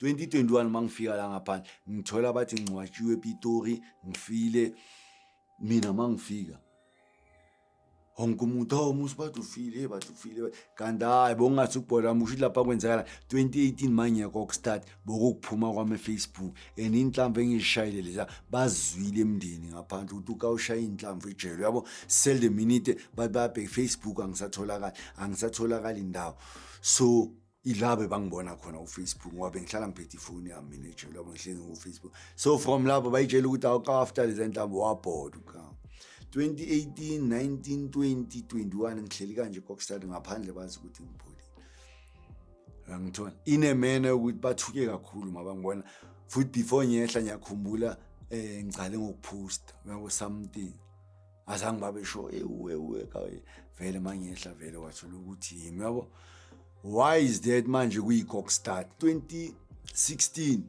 2021 mangifika la ngaphandle ngithola bathi ngcwatshiwe ePitori ngifile mina mangifika wonke umuntu hawu musa bathi ufile bathi ufile kanti hayi bongathi ukubhola musho ukuthi lapha kwenzakala 2018 mangiyekho ukustart bokukuphuma kwami efacebook and inhlamvu engiyishayile leza bazwile emndeni ngaphandle ukuthi ukawushaya inhlamvu ejele uyabo sell the minute bathi bayabheka ifacebook angisatholakali angisatholakali indawo so ila bebangibona khona ufacebook ngoba bengihlala ngiphethe ifoni yami mina ejele yabo ngihlezi ngufacebook so from lapho bayitshela ukuthi awuka-after lezi ntambo wabhoda ukama 2018 19 20 21 ngihleli kanje kokstad ngaphandle bazi ukuthi ngipholile angithola inemena yokuthi bathuke kakhulu mabangibona futhi before ngiyehla ngiyakhumbula um ngicale ngokuphosta uyabo something azange babesho ewu ewu vele mangehla vele wathola ukuthi yimi yabo why is that manje kuyi-cock start 2016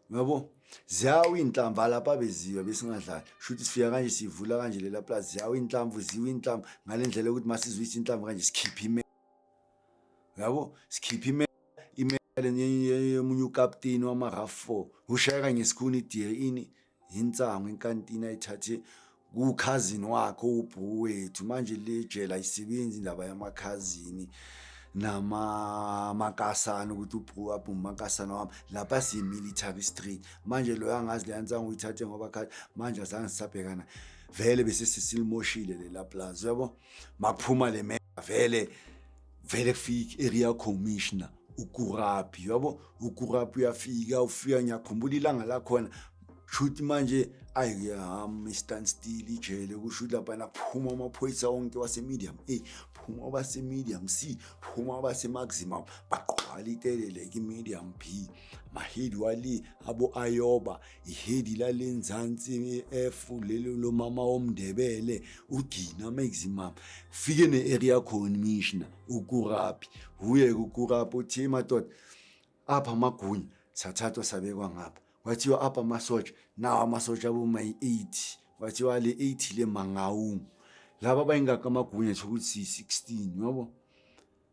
yabo ziyawa iy'nhlamvu alapha beziwa besingadlali shuthi sifika kanje sivula kanje lela plazi ziyawa iy'nhlamvu ziwa iy'nhlamvu ngale ndlela yokuthi masizwisa inhlamvu kanje sikhiphe ime yabo sikhiphe ime imele yomunye ukapteni wama-raf four ushayeka ngesikhuni idl ini insango inkantini ayithathe kukhazini wakhe ubhuku wethu manje le jela ayisebenzi indaba yamakhazini namakasana ukuthi ubhuku waphi umakasana wami lapha siyi-military street manje loyo angazi leya nsango uyithathe ngoba khathi manje azange sisabhekana vele bese sesilimoshile lela plazi uyabo makuphuma le mea vele vele kufika i-area commissioner ukuraphi yabo ukuraphi uyafika ufika ngiyakhumbula ilanga lakhona shuthi manje ayiham i-stand still ijele kusho ukuthi laphana phuma amaphoyisa wonke wasemedium a phuma abasemedium c phuma abasemaximum baqwala itelele kimedium b mahidi wali abo-ayoba ihedi lale nzansi ef lelo lomama womndebele ugina maximum fike ne-area commissioner ukurapi wuye ukurapi uthi madoda apha amagunya sathathwa sabekwa ngapha kwathiwa apha amasotsha nawo amasotsha abomayi-eighty kwathiwa le eighty le mangawungu laba bayingaka amagunya thokuthi siyi-sixteen yabo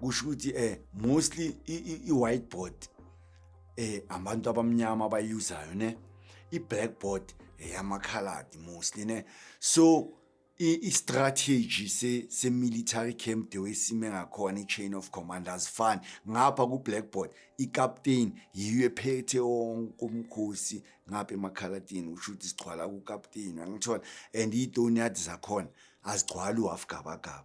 kusho ukuthi eh mostly i-whiteboard eh abantu abamnyama abayuzayo ne i-blackboard eyamakhaladi eh, mostly ne so i-strategy se-military camp the way sime ngakhona i-chain of command azifani ngapha ku-blackboard ikapteni yiyo ephethe wonke umkhosi ngapha emakhalatini usho ukuthi sigcwala kukapteni angithola and iy'tonyadi zakhona azigcwali uwafugabagaba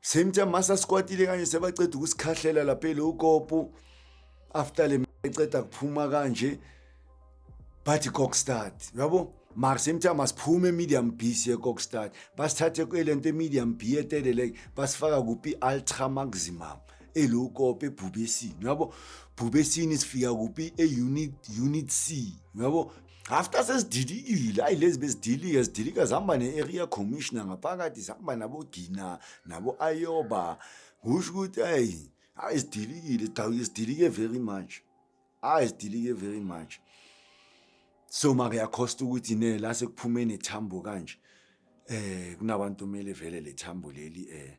same time masa sikwatile kanje sebaceda ukusikhahlela lapha elokopu after le eceda kuphuma kanje bathi cockstart yabo mara same time asiphume medium b siye cockstart basithathe kwelento medium b eteleleke basifaka kuphi ultra maximum elokope ebhubesini yabo bhubesini sifika kuphi e-unit unit c yabo after sesidilikile ayi lezi bezidilike zidilika zihamba ne-area commissioner ngaphakathi zihamba nabogina nabo-ayoba kusho ukuthi ayi ayi zidilikile zidilike very much ayi zidilike very much so make yakhosta ukuthi ne la sekuphume nethambo kanje eh kunabantu kumele vele lethambo leli eh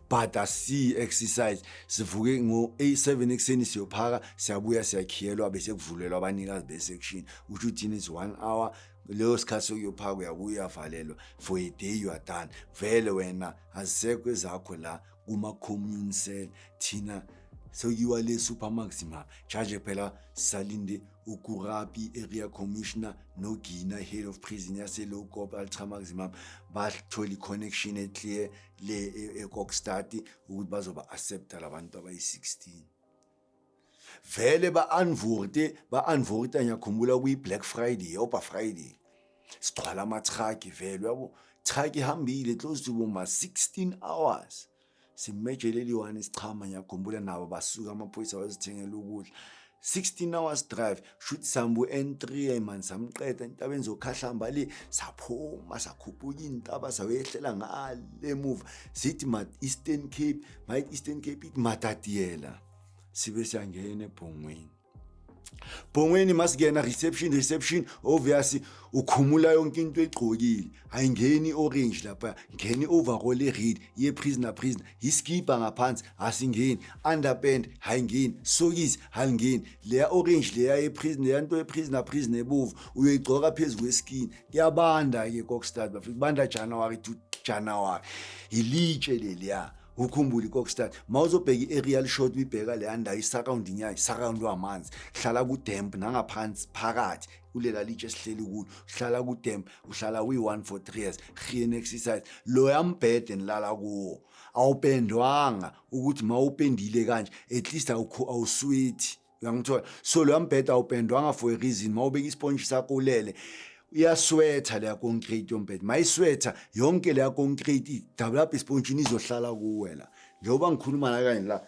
bhada si exercise sivuke ngo 7 ekseni siyophaka siyabuya siyakhiyelwa bese kuvulelwa abanikazi be section uthi uthini is 1 hour leyo sikhathi sokuyophaka uyabuya uyavalelwa for a day you are done vele wena azisekho ezakho la kuma commune cell thina sokuyiwa le super maxima charge phela salinde ukurapi area commissioner nogina head of prison yaselokop altra maximum bathola i-connection eclear le e- ekokstart ukuthi bazoba accepta labantu abayi-16 vele ba-anvorte ba-anvorta ngiyakhumbula kuyi-black friday oba friday sigcwala amatraki vele yabo traki ihambile close to boma-16 hours simejeleliwane sichama ngiyakhumbula nabo basuka amaphoyisa wazithengela ukudla 16 hours drive shuthi sambu N3 man samqeda entabeni zokhahlamba le saphuma sakhuphuka intaba sawehlela ngale move sithi ma Eastern Cape my Eastern Cape it matatiela sibe siyangena ebhongweni Bongweni masigena reception reception obviously ukhumula yonke into egqokile ayingeni orange lapha ngeni overall e red ye prisoner prisoner iskibha ngaphansi asingeni underpant hayingeni sokisi halingeni leya orange leya eprison leya nto eprisoner prison ebovu uyoyigcoka phezu kweskin kuyabanda-ke kokstad bafika kubanda january to january yilitshe leliya ukhumbule ikokstad ma uzobheka i-aerial shot uyibheka leya ndayo i-surrounding yayo surroundwa amanzi hlala kudemp nangaphansi phakathi kulela litshe sihleli kulo uhlala kudem uhlala uyi-one for three years rien exercise loya mbhede enilala kuwo awupendwanga ukuthi ma upendile kanje at least awuswithi uyangithola so loya mbhede awupendwanga for a reason ma ubeka isponji sakho ulele iyaswetha leya concrete yombhede ma iswetha yonke leya concrete idabula apha espontshini izohlala kuwe la njengoba ngikhuluma la kanye la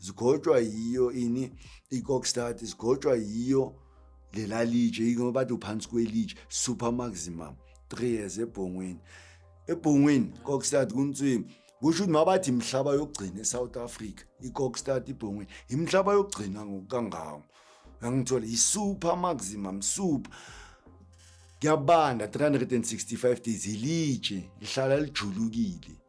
zigotshwa yiyo ini i-cockstart zigotshwa yiyo lela litshe yingoba bathi uphansi kwelitshe super maximum three years ebhongweni ebhongweni cockstart kuntswimi kusho ukuthi mabathi imhlaba yokugcina e-south africa i-cockstart ibhongweni imhlaba yokugcina ngokukangawo angithole yi-super maximum super kuyabanda 365 days ilitshe lihlala lijulukile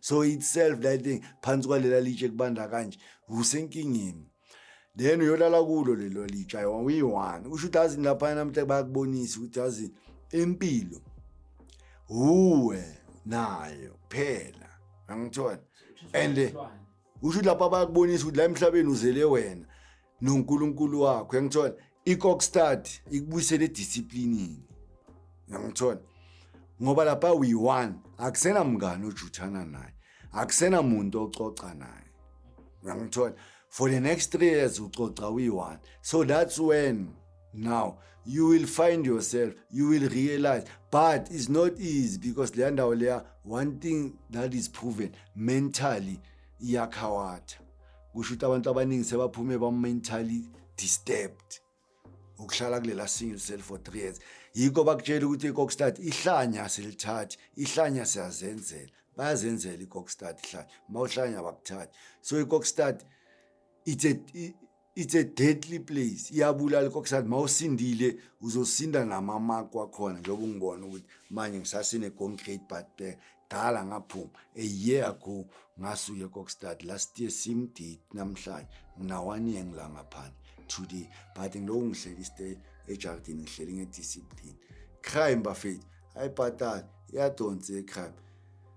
so itself that thing phansi kwalela litshe kubanda kanje usenkingeni then uyolala kulo lelo litsha uyi-one usho ukuthi azini laphana namhla bayakubonisa ukuthi azini impilo uwe nayo phela angithola and usho ukuthi lapha bayakubonisa ukuthi la emhlabeni uzele wena nonkulunkulu wakho yangithola ikokstad ikubuyisele edisciplinini yangithola ngoba lapha uyi-one akusena mngane ojuthana naye akusena muntu ococa naye uyangithola for the next three years ucoca uyi-one so that's when now you will find yourself you will realize but it's not easy because leya ndawo leya one thing that is proven mentally iyakhawatha kusho ukuthi abantu abaningi sebaphume ba-mentally disturbed ukuhlala kulela single cell for three years yikho bakutshela ukuthi ikokstad ihlanya silithathi ihlanya siyazenzela bayazenzela ikokstad ihlanya uma uhlanya bakuthathi so ikokstad it's a it's a deadly place iyabulala kokusathi uma usindile uzosinda namamako akhona njengoba ungibona ukuthi manje ngisasine concrete but eh, dala ngaphuma a year ago ngasuye kokstad last year same date namhlanje nginawane year ngila ngaphandle today but ngiloku ngihleli stay ejardini ngihleli ngediscipline crime bafethu ayibhatali iyadonsa ecrime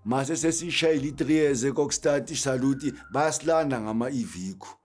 mase sesishayile i-three years kokstad isaluti bayasilanda ngama-evikho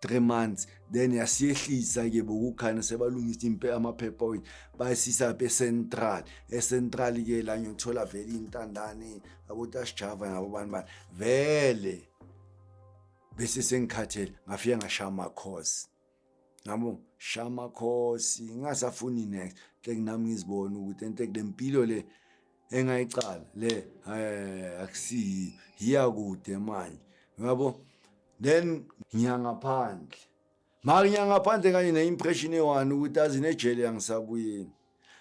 three months then yasiyehlisa ke bokukhana sebalungisa impe amaphepha wethu bayisisa pesentral esentral ke la ngiyothola vele intandane abotasijava nabo bani bani vele bese sengikhathele ngafike ngashaya amakhosi ngabo shaya amakhosi ngingasafuni next ke nami ngizibona ukuthi ente kule mpilo le engayiqala le eh, akusiyi hiya kude manje yabo then ngiyangaphandle mara ngiyangaphandle kanye ne-impression ewani ukuthi azi nejele yangisabuyeni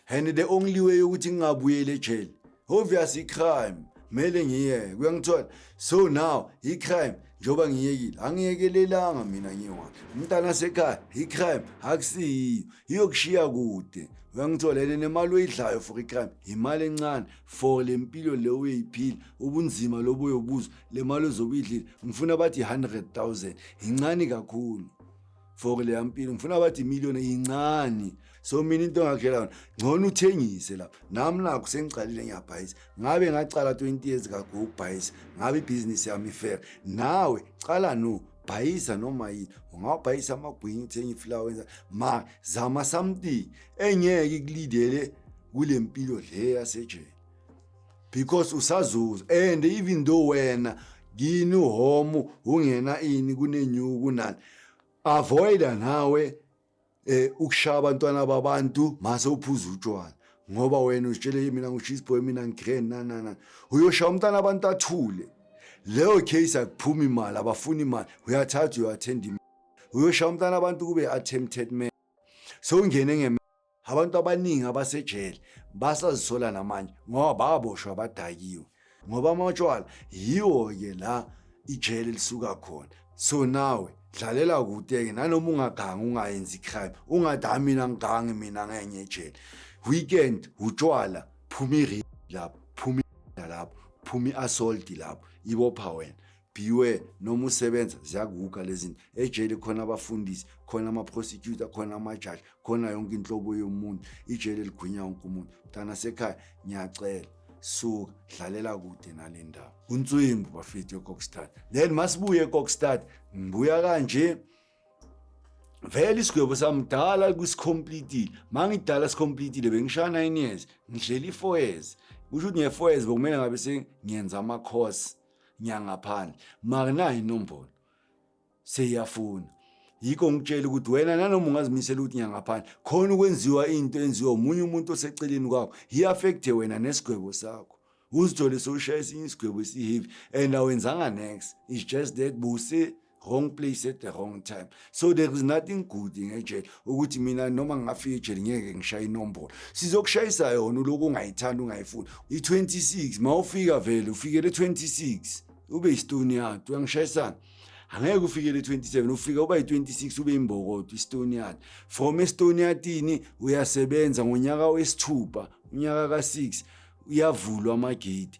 and the only way yokuthi ngingabuyeli ejele obvious i-crime mele ngiyeke kuyangithola so now i-crime njengoba ngiyekile angiyekelelanga mina ngiwa umntana sekhaya i-crime akusiyiyo iyokushiya kude uyangitholele nemali oyidlayo for icrime yimali encane for le mpilo le uyoyiphila ubunzima lobo uyobuzwa le mali ozobe uyidlile ngifuna bathi i-hundred thousand yincane kakhulu for leya mpilo ngifuna bathi imiliyoni yincane so mina into engakhela yona ngcono uthengise lapha nami nakho sengiqalile ngiyabhayisa ngabe ngacala 20 years kago ukubhayisa ngabe ibhizinisi yami ifair nawe cala no bhayisa noma yini ungawabhayisa amagwinya uthenge ifulawa wenza ma zama something engeke ikulidele kule mpilo le yasejele because usazuza and even though wena kini uhomo ungena ini kunenyuku kunani avoida nawe eh ukushaya abantwana babantu mase uphuza utshwala ngoba wena uzitshele mina ngu-cheese boy mina ngi-grand nanana uyoshaya umntana abantu athule leyo case akuphumi imali abafuni imali uyathatha uyathenda imali uyoshaya umntana abantu kube attempted man sowungene nge abantu abaningi abasejele basazisola namanje ngoba baboshwa badakiwe ngoba amatshwala yiwo-ke la ijele lisuka khona so nawe dlalela kude-ke nanoma ungagangi ungayenzi crime ungathi hayi mina ngigangi mina ngenye ejele weekend utshwala phuma irip lapho phuma lapho phuma i-assault lapho ibopha wena beware noma usebenza ziyakuguga lezinto ejele khona abafundisi khona ama-prosecutor khona amajaji khona yonke inhlobo yomuntu ijele ligwinya wonke umuntu mntana sekhaya ngiyacela suka dlalela kude nale ndawo unswimbu bafethu ekokstad then masibuye ekokstad ngibuya kanje vele isigwebo samdala kusicompletile mangidala sicompletile bengishaya 9 years ngidlela i-4 years kusho ukuthi nge-4 years bekumele ngabe sengiyenza ama-course nyangaphandle makunayo inombolo seyiyafuna yikho ngitshela ukuthi wena nanoma ungazimisela ukuthi nyangaphandle khona ukwenziwa into enziwa omunye umuntu oseceleni kwakho hi-affecthe wena nesigwebo sakho uzithole sowushaya esinye isigwebo esiheavy and awenzanga next is just that buse wrong place at the wrong time so there is nothing good ngejele ukuthi mina noma ngingafika ejele ngeke ngishaye inombolo sizokushayisa yona uloku ungayithanda ungayifuni i-26 ma ufika vele ufikele 26 ube yistoni yard uyangishayisana angeke ufikele 27 ufika uba yi-26 ube imbokodo istoniat from estoniatini uyasebenza ngonyaka wesithupha unyaka ka-6 uyavulwa amagate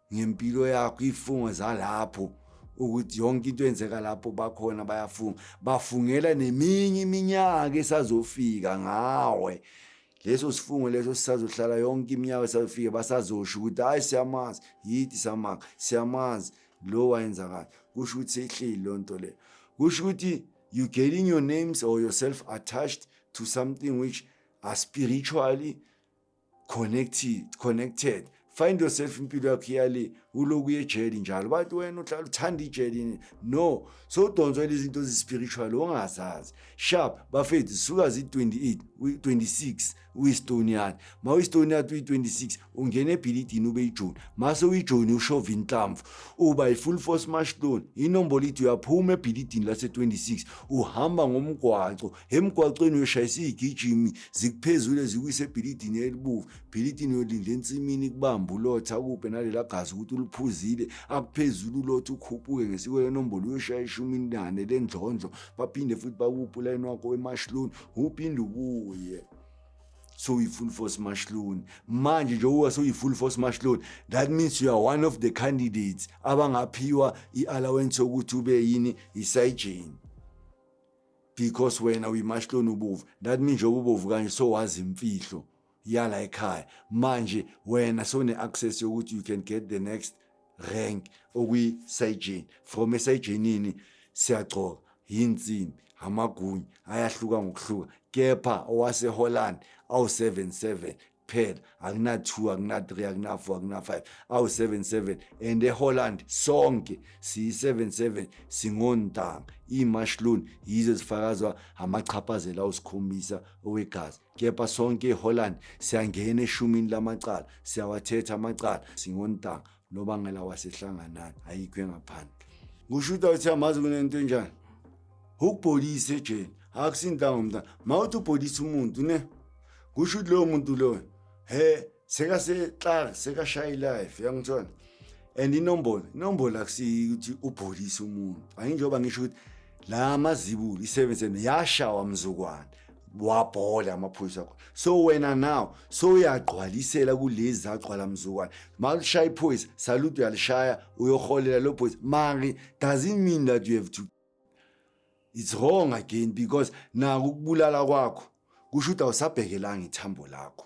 ngempilo yakho ifungo zalapho ukuthi yonke into enzeka lapho bakhona bayafunga bafungela neminye iminyaka esazofika ngawe leso sifungo leso sisazohlala yonke iminyaka esazofika basazosho ukuthi hayi siyamazi yithi samanga siyamazi lo wayenza kanje kusho ukuthi seyihleli loo nto leyo kusho ukuthi you getting your names or yourself attached to something which are spiritually connected connected find yourself impilo yakho iyale uloku yejeli njalo bathi wena uhlala uthanda ijeli no so udonswa lezi zinto zi-spiritual ongazazi sharp bafethu zisuka zi-28 26 uyistonian ma uyistonian uyi-26 ungena ebhilidini ube ijoni mase uyijoni ushova inhlamvu uba i-full force mashlon inombolo ithi uyaphuma ebhilidini lase-26 uhamba ngomgwaco emgwaqweni uyoshayisa iy'gijimi zikuphezule zikwise ebhilidini elibovu bhilidini uyolinde ensimini kubamba ulotha akuphe nalela gazi ukuthi uluphuzile akuphezulu ulotha ukhuphuke ngesiko lenombolo uyoshaya ishumi nane lendlondlo baphinde futhi bakuphe ulayini wakho wemashloni uphinde ubuye so uyi-full force mashloni manje njengoba sewuyi-full force mashloni that means you are one of the candidates abangaphiwa i-allowance yokuthi ube yini isayijeni because wena uyimashloni ubovu that mean njengoba ubovu kanje sowazi imfihlo yala ekhaya manje wena sewune-access yokuthi you can get the next rank okwi-sajeni from esajenini siyagcoka yinsimbi amagunya ayahluka ngokuhluka kepha owaseholland awu-77 kuphela akuna-two akuna-three akuna-four akuna-five awu-seven seven and eholland sonke siyi-seven seven singontanga iimashlun yizo zifakazwa amachaphazela awusikhombisa owegazi kepha sonke eholland siyangena eshumini lamacala siyawathetha amacala singontanga nobangela wasehlanganani ayikho engaphandle kusho ukuthi awuthi amazi kunento enjani ukubholisa ejeni akusintanga umntana ma uthi ubholisa umuntu ne kusho ukuthi loyo muntu loyo he sekaseklak sekashaye ilife yangithona and inombolo inombolo akusiyi ukuthi ubholisa umuntu ayinjengoba ngisho ukuthi la mazibulo isebenze yashawa mzukwana wabhola amaphoyisa akho so wena now so uyagqwalisela kulezi zagqwala mzukwana malushaya iphoyisa salute uyalishaya uyoholela lo phoyisa mari doesn't mean that you have to it's wrong again because naku ukubulala kwakho kusho ukuthi awusabhekelanga ithambo lakho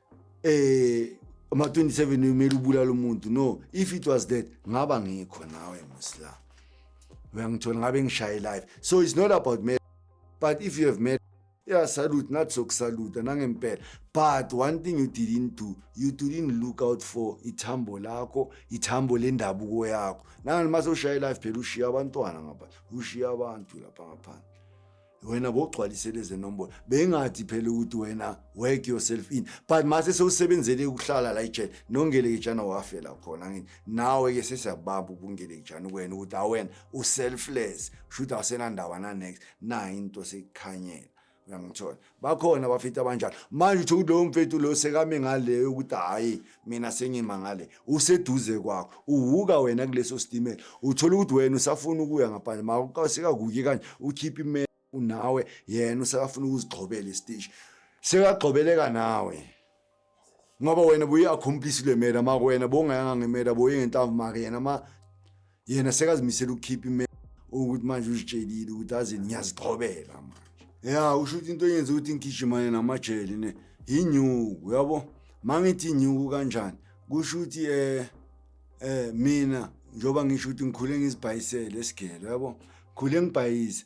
eh ama 27 umele ubulala umuntu no if it was that ngaba ngikho nawe musla uyangithola ngabe ngishaye live so it's not about me but if you have met yeah salute not so salute nangempela but one thing you didn't do you didn't look out for ithambo lakho ithambo lendabuko yakho nangani mase ushaya live phela ushiya abantwana ngapha ushiya abantu lapha ngaphandle wena bogcwalise lezi nombolo bengathi phela ukuthi wena work yourself in but mase sewusebenzele ukuhlala la ejele nongelekejana wafela khona ngini nawe ke sesiyabamba ubungelekejana kwena ukuthi awena uselfless shuthi awusenandaba na next na into sekukhanyela uyangithola bakhona abafethu abanjalo manje utho kulowo mfethu lo sekame ngaleyo ukuthi hhayi mina sengimangale useduze kwakho uhuka wena kuleso sitimela uthola ukuthi wena usafuna ukuya ngaphandle makasekakuki kanje ukhiphe imela unawe yena usakafuna ukuzigxobela isiteshi sekagxobeleka nawe ngoba wena buye accomplish le mela makwena bongayanga ngemela buye ngentambo make yena ma yena sekazimisela ukukhipha ime ukuthi manje uzitshelile ukuthi azini ngiyazithobela manje ya usho ukuthi into eyenza ukuthi ngigijimane namajele ne yinyuku uyabo mangithi inyuku kanjani kusho ukuthi eh eh mina njoba ngisho ukuthi ngikhule ngizibhayisele esigele yabo khule ngibhayise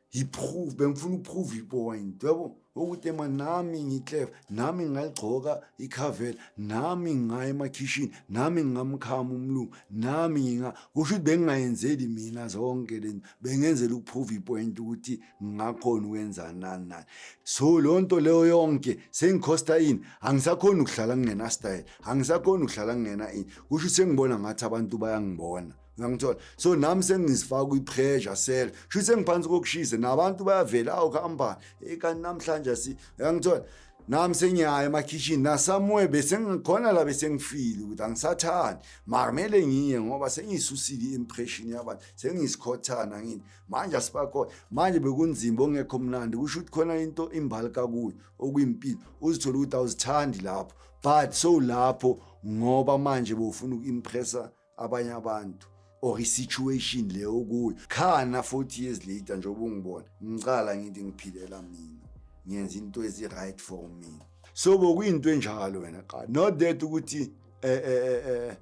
yiproof bengifuna uprove ipoint yabo ukuthi ema nami ngiclever nami ngaligcoka ikhavela nami ngaya emakhishini nami ngingamkhama umlungu nami nginga kusho ukuthi bengingayenzeli mina zonke lento bengenzela ukuprove ipoint ukuthi ngingakhona ukwenza nani nani so loo nto leyo yonke sengikhosta ini angisakhoni ukuhlala kungenastyle angisakhoni ukuhlala kungena ini kusho ukuthi sengibona ngathi abantu bayangibona ngangithola so nami sengizifaka kwi-pressure sel shuthi sengiphansi kokushisa nabantu bayavela awu kuhambani eyi kanti namhlanje si ngangithola nami sengiyaya emakhishini nasamuye besengikhona la besengifile ukuthi angisathandi makumele ngiye ngoba sengiyisusile i-impression yabantu sengiyisikhothana ngini manje asibakhona manje bekunzima ongekho mnandi kusho ukuthi khona into imbali kakuyo okuyimpilo uzithola ukuthi awuzithandi lapho but so lapho ngoba manje bofuna uku-impressa abanye abantu or i-situation le okuyo khana 40 years later njengoba ungibona ngicala ngithi ngiphilela mina ngenza into ezi-right for mina so bokuyinto enjalo wena qala not that ukuthi eh, eh, eh, eh,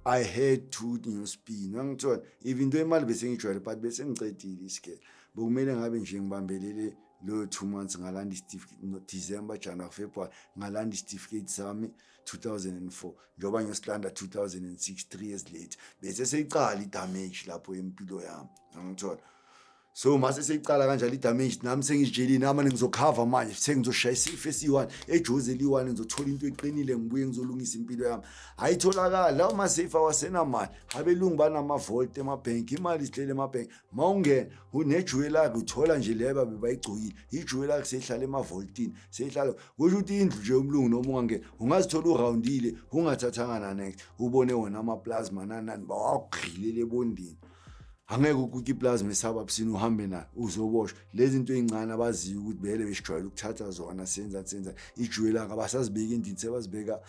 i had to newspin angithola even into imali bese ngijwayele but bese ngicedile isikele bokumele ngabe nje ngibambelele loyo two months ngalanda isitifiketi no december january february ngalanda isitifiketi sami 2004 njengoba ngiyosilanda 2006 3 years later bese seyiqala idamage lapho empilo yami ngithola so mase seyiqala kanjalo idamage nami sengijijelile nami ngizokhava manje sengizoshaya isifo esiyi-one ejozi eliyi-one ngizothola into eqinile ngibuye ngizolungisa impilo yami ayitholakali lawo maseyifa wasenamali abelungu banamavolt emabhenki imali isilele emabhenki uma ungena unejuwe lakhe uthola nje le babe bayigcokile ijuwe lakhe seyihlala emavoltini seyihlala kusho ukuthi indlu nje umlungu noma ungangena ungazithola urawundile ungathathanga nanext ubone wona amaplasma nanani bawagqilele ebondini angeke ukuke iplasma esaba busini uhambe nayo uzoboshwa lezi nto ey'ncane abaziyo ukuthi bele besijwayele ukuthatha zona senza senza ijuwe lakhe abasazibeki endini sebazibeka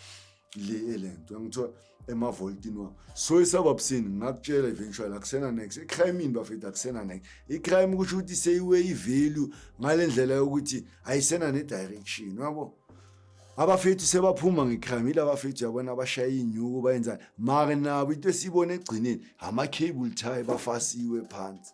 le lento ngithiwa emavoltini wami so esababusini ngakutshela eventually akusena next icrime ini bafethu akusena next icrime kusho ukuthi seyiwe ivalue ngale ndlela yokuthi ayisena ne-direction wabo abafethu sebaphuma ngecrime yila bafethu yabona abashaya inyuku bayenzani mara nabo into esiyibona ekugcineni ama-cable tie bafasiwe phansi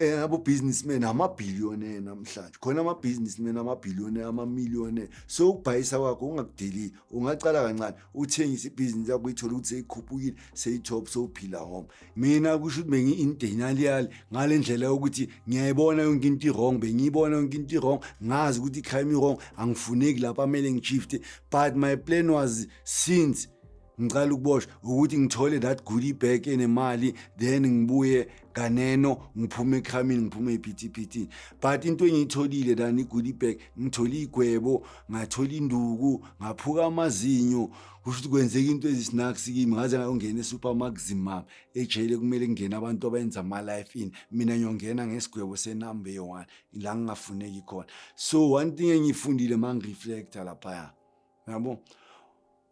Eh abo businessmen ama billionaire namhlanje. Khona ama businessmen ama billionaire ama millionaire. So ukubhayisa kwakho ungakudeli. Ungaqala kancane uthengise ibusiness yakho uyithola ukuthi seyikhuphukile, seyitop sowuphila home. Mina kusho ukuthi bengi in denial ngalendlela yokuthi ngiyayibona yonke into wrong, bengiyibona yonke into wrong, ngazi ukuthi crime wrong, angifuneki lapha mele ngishifte. But my plan was since ngicela ukuboshwa ukuthi ngithole that goodie bag enemali then ngibuye kaneno ngiphume ekhamini ngiphume ephithiphithini but into engiyitholile lana igoodie bag ngithole igwebo ngathola induku ngaphuka amazinyo kusho ukuthi kwenzeka into ezisnacks kimi ngaze ngayongena esupermaxim map ejele kumele kungene abantu abayenza ama-life in mina ngiyongena ngesigwebo senumber one la ngingafuneki khona so one thing engiyifundile ma ngireflecta laphaya yabo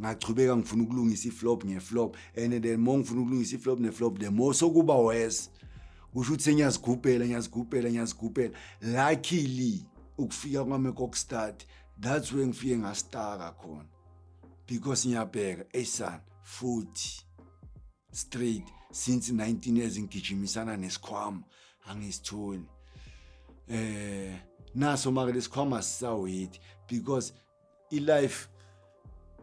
ngachubeka ngifuna ukulungisa iflop ngeflop and then more ngifuna ukulungisa iflop neflop the more sokuba worse kusho ukuthi sengiyazigubhela ngiyazigubhela ngiyazigubhela luckily ukufika kwami kokustart that's where ngifike ngastaka khona because ngiyabheka eyisana futhi straight since 19 years ngigijimisana nesikhwama angisitholi eh naso maka lesikhwama sisawethi because I-life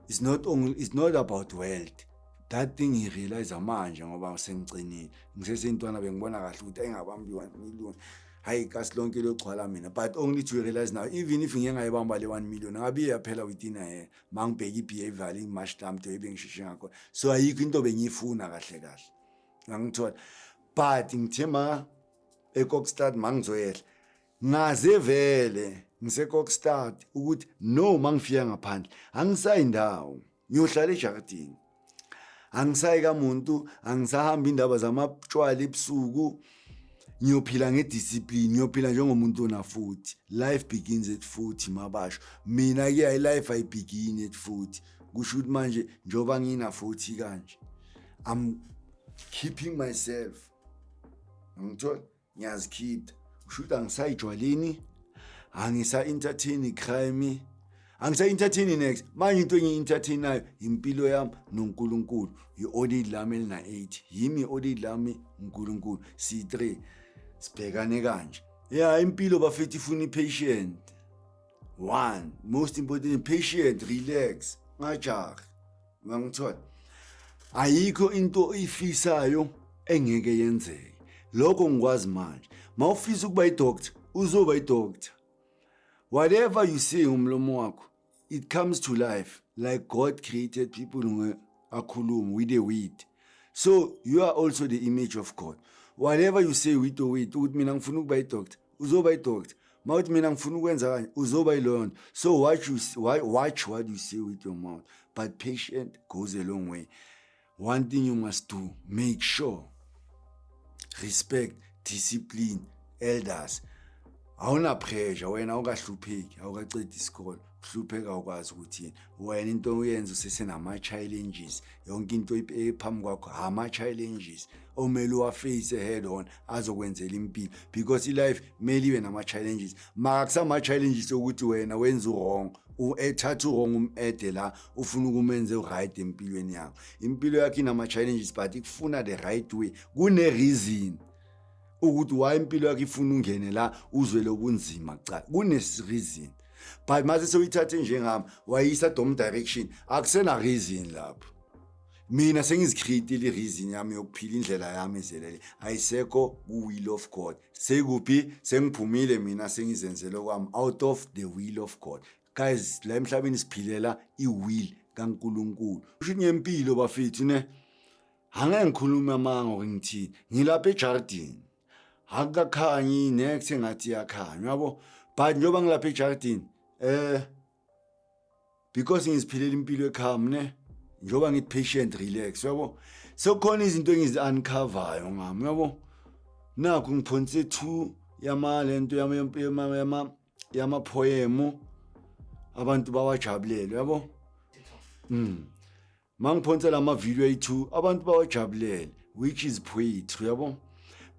is not only is not about wealth that thing he realize manje ngoba sengicinile ngisesentwana bengibona kahle ukuthi engabambi 1 million hayi kasi lonke logcwala mina but only to realize now even if ngeke ngayibamba le 1 million ngabe iyaphela within a year mangibheka i-behavior ingimash lam to ebengisheshe ngakho so ayikho into bengiyifuna kahle kahle ngangithola but ngithe ma ekokstad mangizoyehla Ngaze vele ngisekokstad ukuthi no mangifika ngaphandle angisayi ndawo ngiyohlala ejakadini angisayi kamuntu angisahamba indaba zamatshwala ebusuku ngiyophila ngediscipline ngiyophila njengomuntu ona futhi life begins at futhi mabasho mina ke i life i begin at futhi kusho ukuthi manje njoba ngina futhi kanje i'm keeping myself ngithola ngiyazikhipha usho ukuthi angisayijwaleni angisa-entertaini crime angisa-entertaini next manje into engiyi-entertainayo yimpilo yami nonkulunkulu yi-olid lami elina-eight yimi i-olid lami unkulunkulu siyi-three sibhekane kanje ya impilo bafethi ifuna i-patient one most important patient relax ngajahi ungangithola ayikho into oyifisayo engeke yenzeke lokho ngikwazi manje mawufisa ukuba idoctor uzoba idoctor whatever you say umlomo wakho it comes to life like god created people nge akhulume with the weed so you are also the image of god whatever you say with the weed ukuthi mina ngifuna ukuba idoctor uzoba idoctor mawuthi mina ngifuna ukwenza kanje uzoba yiloyo nto so watch, you, watch what you say with your mouth but patient goes a long way one thing you must do make sure respect discipline elders awunapressure wena awukahlupheki awukacedi isikolo uhlupheka ukwazi ukuthi wena into uyenza usesenama-challenges yonke into ephambi kwakho ama-challenges omele uwaface head on azokwenzela impilo because ilife kumele ibe nama-challenges makakusama-challenges okuthi wena wenza uwrong ethatha uwrong um-ede la ufuna ukumenze uright empilweni yakho impilo yakho inama-challenges but ikufuna the right way kune-reason ukuthi why impilo yakho ifuna ungene la uzwele ubunzima kuqala kune-reason but mase sewuyithathe njengami wayisa dom direction akusena reason lapho mina sengizikhiritile ireason yami yokuphila indlela yami ezelele ayisekho ku-will of god sekuphi sengiphumile mina sengizenzele kwami out of the will of god guys la emhlabeni siphilela i-will kankulunkulu usho ngempilo bafethu ne angeke ngikhulume amanga ngithini ngilapha ejardini akukakhanyi next engathi iyakhanya yabo but njengoba ngilapha ejaridini eh because ngiziphilela impilo ekhami ne njengoba ngithi patient relax yabo sekukhona izinto engizi uncoveryo ngami yabo nakho ngiphonse two yama lento yama yama yama yama poem abantu bawajabulele yabo mm mangiphonsela ama-video ayi-two abantu bawajabulele which is poetry yabo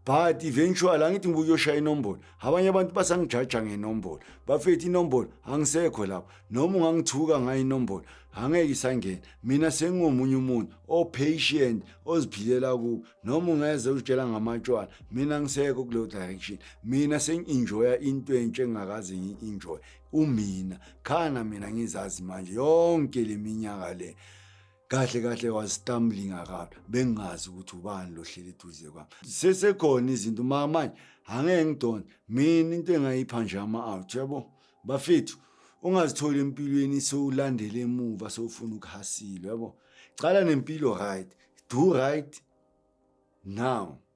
but eventually angithi ngibuye uyoshaya inombolo abanye abantu basangijaja ngenombolo bafethe inombolo angisekho lapho noma ungangithuka ngayo inombolo angeke isangena mina sengingomunye umuntu opatient oziphilela kubo noma ungeze uzitshela ngamatshwala mina ngisekho kuleyo direction mina sengi-enjoya into entsha engingakaze ngi-enjoye umina khana mina ngizazi manje yonke leminyaka le kahle kahle was stumbling around bengazi ukuthi ubani lohleli eduze kwami sesekhona izinto uma manje angeke ngidonse mina into engayipha nje ama-out yabo bafethu ungazitholi empilweni sewulandela emuva sewufuna ukuhasile yabo cala nempilo right do right now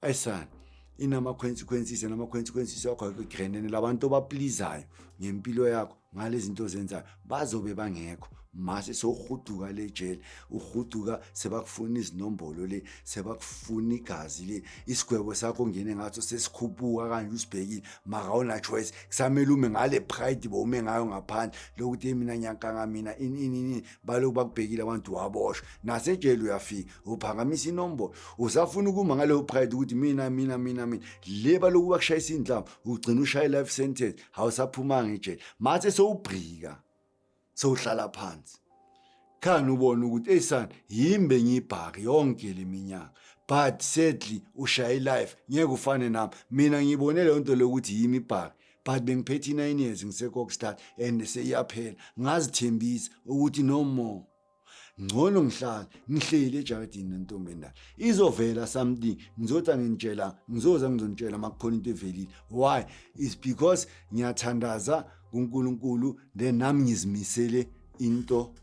ayisani inama-consequences nama-consequences wakho akugrenene labantu obaplizayo ngempilo yakho ngale zinto ozenzayo bazobe bangekho mase sowuhuduka le jele uhuduka sebakufuna izinombolo le sebakufuna igazi le isigwebo sakho ngene ngaso sesikhuphuka kanje usibhekile maka unachoice kusamele ume ngale pride bo ume ngayo ngaphandle lokuthi mina nyankanga mina ini ini baloku bakubhekile abantu waboshwa nasejele uyafika uphakamisa inombolo usafuna ukuma ngaleyo pride ukuthi mina mina mina mina le baloku bakushayisa indlama ugcina ushaye life sentence hawusaphumanga ejele mathe sowubhrika sowuhlala phansi khani ubona ukuthi eyisani yimbe ngibhaki yonke leminyaka but sadly ushaye life ngeke ufane nami mina ngibone leyo nto lokuthi yimi ibhaki but bengiphethe i-nine years ngisekokstad and seyiyaphela ngazithembisa ukuthi no more ngcono ngihlala ngihleli ejaradini nentombi endala izovela something ngizothi angintshela ngizoza ngizonitshela uma kukhona into evelile why is because ngiyathandaza kunkulunkulu then nami ngizimisele into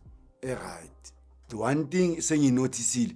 eright the one thing senginothisile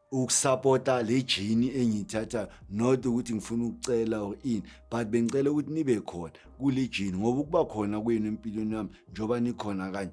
ukusapota le jini engiyithathayo not ukuthi ngifuna ukucela or ini but bengicela ukuthi nibe khona kule jini ngoba ukuba khona kwenu empilweni yami njengoba nikhona kanye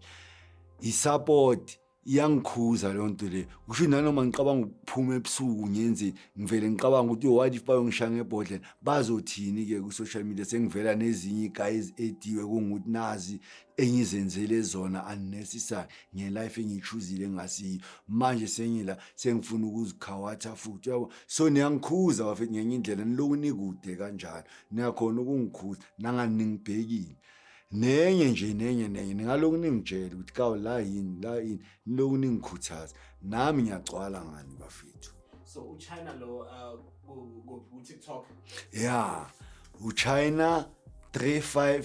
isapoti iyangikhuza leyo nto leyo kusho nanoma ngicabanga ukuphuma ebusuku ngenzeni ngivele ngicabanga ukuthi what if bayongishaya ngebhodlela bazothini-ke ku-social media sengivela nezinye igayi eziediwe kungukuthi nazi engizenzele zona unnecessary ngelife engiyichuzile engasiyo manje sengila sengifuna ukuzikhawatha futhi yabo so niyangikhuza bafethu ngenye indlela niloku nikude kanjalo niyakhona ukungikhuza nanganingibhekile nenye nje nenye nenye ningaloku ningitshela ukuthi kawu la yini la yini niloku ningikhuthaza nami ngiyagcwala ngani bafethu so uchina lo uh, ku-tiktok ya uchina 35